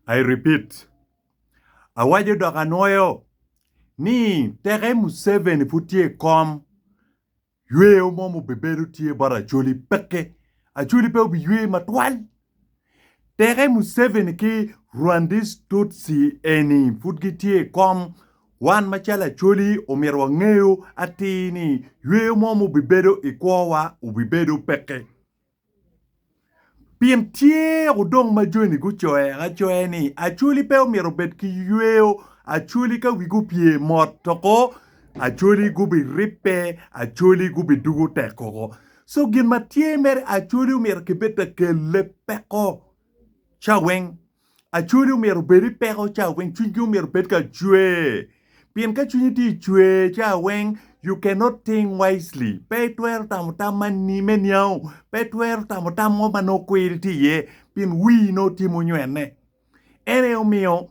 I repeat, awaco dok anwoyo ni teke Museveni pud tye i kom, yweyo mo mubibedo tye bot Acholi peke. Acholi pe obiywe matwal. Teke Museveni ki Rwandis Tutsi eni pud gitye i kom, wan macalo Acholi omyero wangeyo atir ni yweyo mo mubibedo i kwowa obibedo peke. Pien tye odong ma joni gucoya acoya ni, Acholi pe omyero obed ki yweyo, acholi ka wigi opye mot doko, acholi gubiribbe, acholi gubidugo tek koko. So gin ma tye mere, acholi omyero kibed ka kelle peko caweng acwali omyero obedi peko caweng cwingi omyero obed ka cwer pien ka cwinyi tye cwer caweng you can not think wisely pe itwero tamo tam ma me niango pe itwero tamo tam mo ma nongo kwiri tye iye pien wii nongo tye munywene en aye omiyo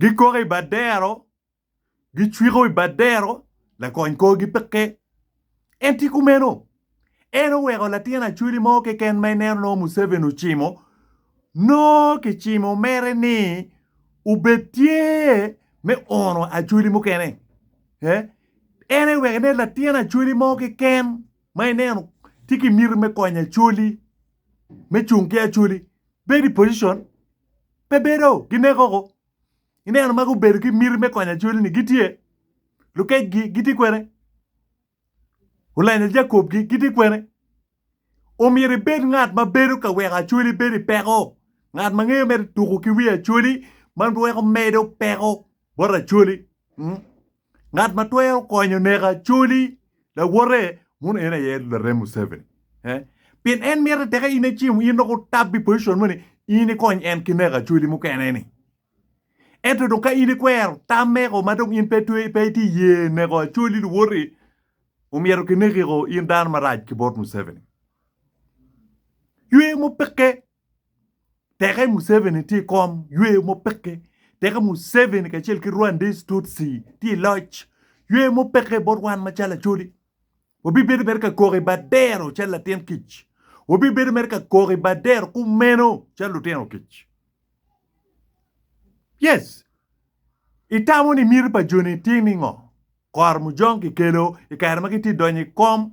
Gikoko i bad dero, gicwiko i bad dero, lakony korgi peke. En tye kumeno. En oweko latin Acholi mo keken ma ineno nongo Museveni ocimo, nongo kicimo mere ni obed tye me ono Acholi mukene. En aye oweko ineno latin Acholi mo keken ma ineno tye ki miti me konyo Acholi, me cung ki Acholi, bedo i pocicon. pe bedo, gineko ko. Ineno ma gubedo ki miti me konyo Acholi-ni, gitye. Lukecgi gitye kwene. Olenyo Jakobgi gitye kwene. Omyero ibed ngat ma bedo ka weko Acholi bedo i peko, ngat ma ngeyo mere tuko ki wi Acholi ma weko medo peko bot Acholi. Ngat ma twero konyo neko Acholi lawote muno en aye larem Museveni. Eh? Pien en mite teke in icimo in dok otabbi i position mo ni in ikony en ki neko Acholi mukene ni. Ento dong ka in ikwero tam meko ma dong in pe twe pe iti ye neko Acholi luwoti omyero kineki ko in dano marac ki bot Museveni. Ywe mupikke Teke Museveni tye i kom yweyo mo peke, teke Museveni kacel ki Rwandese Tutsi tye i loc, yweyo mo peke bot wan macalo Acholi. Wabibedo mere ka kok i bad dero calo latin kic, wabibedo mere ka kok i bad dero kumeno calo lutino kic. Yes, itamo ni miti pa joni tye ni ngo? Kor mujong kikelo i kare ma gitye donyo i kom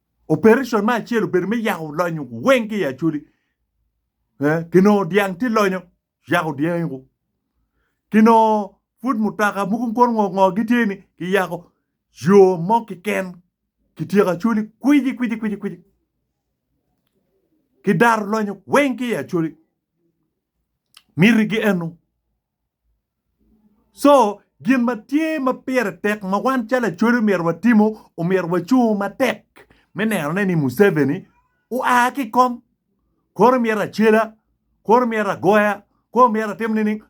Operation me acel obedo me yako lonyo weng ki i acholi. Eh, kinongo dyang tye lonyo, yako dyangi ku. Kinongo pud mutoka mugun kono ngo ngo gitye ni kiyako yo mo kiken kityeko acholi kwiji kwiji kwiji kwiji. Kidaro lonyo weng ki i acholi. Mitigi eno, Co, gin ma tye ma pire tek ma wan calo Acholi omyero watimo, omyero wacung matek me nenone ni Museveni oa ki i kom. Kore myero acela, kore myero agoya, kore myero atim nining?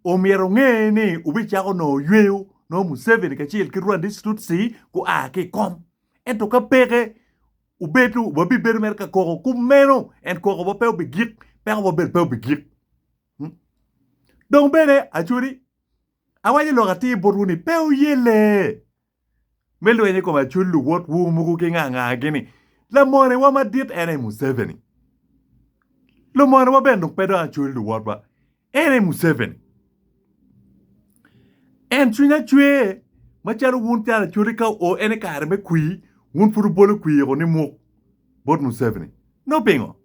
Omyero onge ni wubicako nongo yweyo nongo Museveni kacel ki Rwandis Tutsi gua ki i kom. Ento ka peke, wubed wabibedo mere ka koko. Kumeno en kokowa pe obigik, pekowa bene pe obigik. Dong bene, Acudi, awaco lok atir botwu ni, pe wuye lee me lweny i kom acul luwotwu mogo ki nga ngagi ni, Lamonewa madit en aye Museveni. Lumonewa bene dong pe dong acul luwotwa, en aye Museveni. En cwinya cwer macalo wun calo Acudi ka o en i kare me kwir, wun pud wubolo kwir-ru ni muk bot Museveni. Nongo pingo?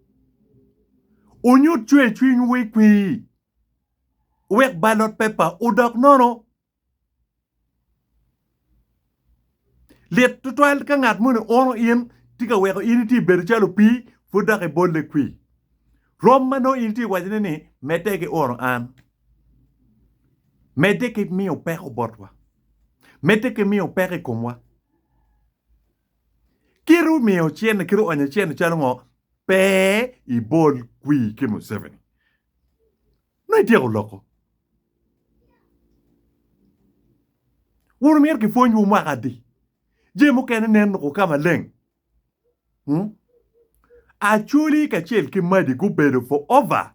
Wunyut cwercwiny wi kwir wek balot pepa odok nono. Lit tutwal ka ngat moni uno in tye ka weko in itye bedo calo opii pud dok ibolle kwir. Rwom ma nongo in itye wacone ni medde ki uno an. Medde ki miyo peko botwa. Medde ki miyo peko i komwa. Kit omiyo cente, kit oonyo cente calo ngo, pe ibol kwir ki Museveni. Nongo ityeko loko. Wun myero ki pwony wu mwaka adi? Jami mukene nen ruko ka maleng. Acholi kacel ki Madi gubedo for over.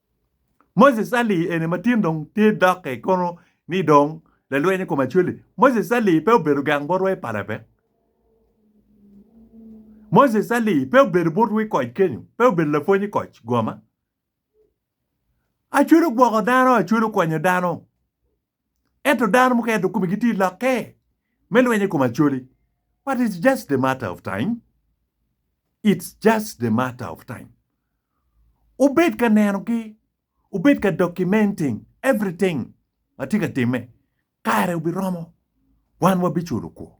Moses Ali eni ma tin dong tye dokke kono ni dong lalweny i kom Acholi. Moses Ali pe obedo gang bot wa i pala pe. Moses Ali pe obedo bot wa i koc kenyo, pe obedo lapwony i koc goma. Acholi ogwoko dano, Acholi okonyo dano. Ento dano mukene dong komigi tye lokke me lweny i kom Acholi. But it's just the matter of time. It's just the matter of time. Wubed ka nenogi, wubed ka documenting everything ma tye ka timme. Kare obiromo, wan wabiculo kwo.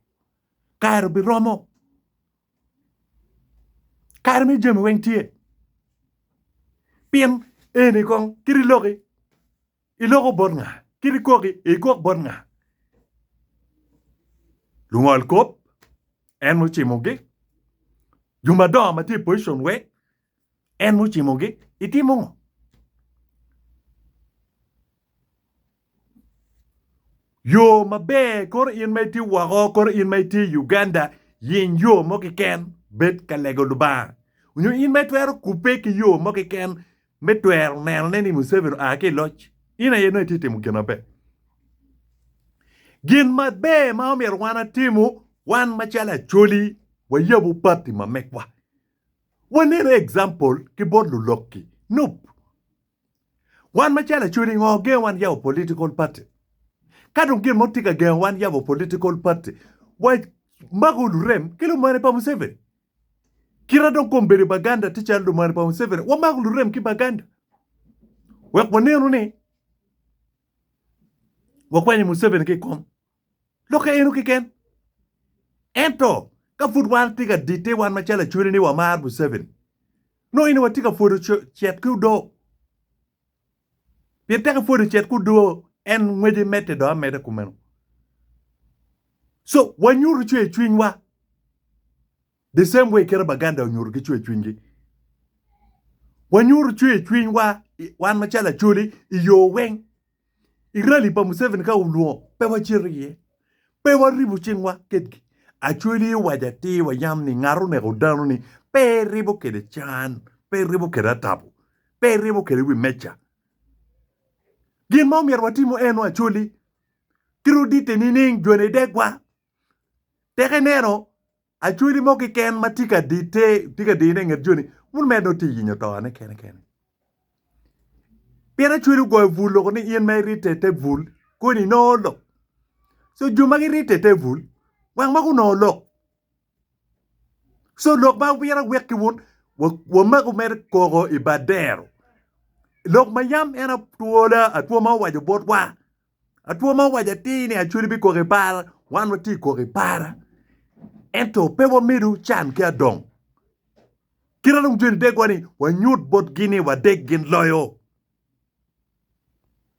Kare obiromo. Kare me jami weng tye. Pien eni kong kit i loki. Iloko bot nga? Kit ikok-ki, ikok bot nga? Lungol kop, en mucimogi. Jo madongo ma tye i pocicon wek, en mucimogi. Itimo ngo? Yo maber, koro in ma itye woko, koro in ma itye i Uganda, yeny yo mo keken, bed ka lego Lubanga. Nyo in ma itwero kubbe ki yo mo keken, Me twero nenone ni Museveni oa ki i loc, in aye nongo itye ka timo gin maber. Gin maber ma omyero wan atimu, wan macalo Acholi wayabu pati ma megwa, wanenu example ki bot lulok-ki. Nup. Wan macalo Acholi ngo gengo wan yabo political party? Ka dong gin mo tye ka gengo wan yabo political party, wamako lurem ki lumene pa Museveni. Kite dong kom bedo Baganda tye calo lumane pa Museveni, wamako lurem ki Baganda wek wanenu ni wakwanyo Museveni ki i kom lokke eno keken. Ento ka pud wan tye ka ditte wan macalo Acholi ni wamaro Museveni, nongo ene watye ka pwodo cet ki odoo. Pien teke pwod ocit ku doo en ngwece medde dong ameda kumeno. So wanyutu cwer cwinywa the same way kite Baganda onyutu ki cwer cwinygi. Wanyutu cwer cwinywa wan macalo Acholi i yo weng. I rally pa Museveni ka olwongo pe wacito iye. Pe waribo cingwa kedgi. Acweli owaco atir wa yam ni ngat oneko dano-ni pe eribo kede can, pe eribo kede atabo, pe eribo kede wi meca. Gin ma omyero watimo eno acweli kit oditte nining jone degwa? Teke neno Acholi mo keken ma tye ka dite, tye ka dine inget joni, wun mere dong tye ka yenyo tone kene kene. Pien acholi ogoyo bul loko ni in ma iritte i te bul, koni inongo lok. So jo ma giritte i te bul, wang ma gunongo lok. So lok ma myero awek ki wun, wa- wamagu mere koko i badero. Lok ma yam en atwola, atwoma owaco botwa, Atwo ma owaco atir ni Acholi bikok i para, wan watye kok i para ento pe wamedo can ki adong. Kit ma dong joni degwa ni wanyut botgi ni wadeg gin loyo.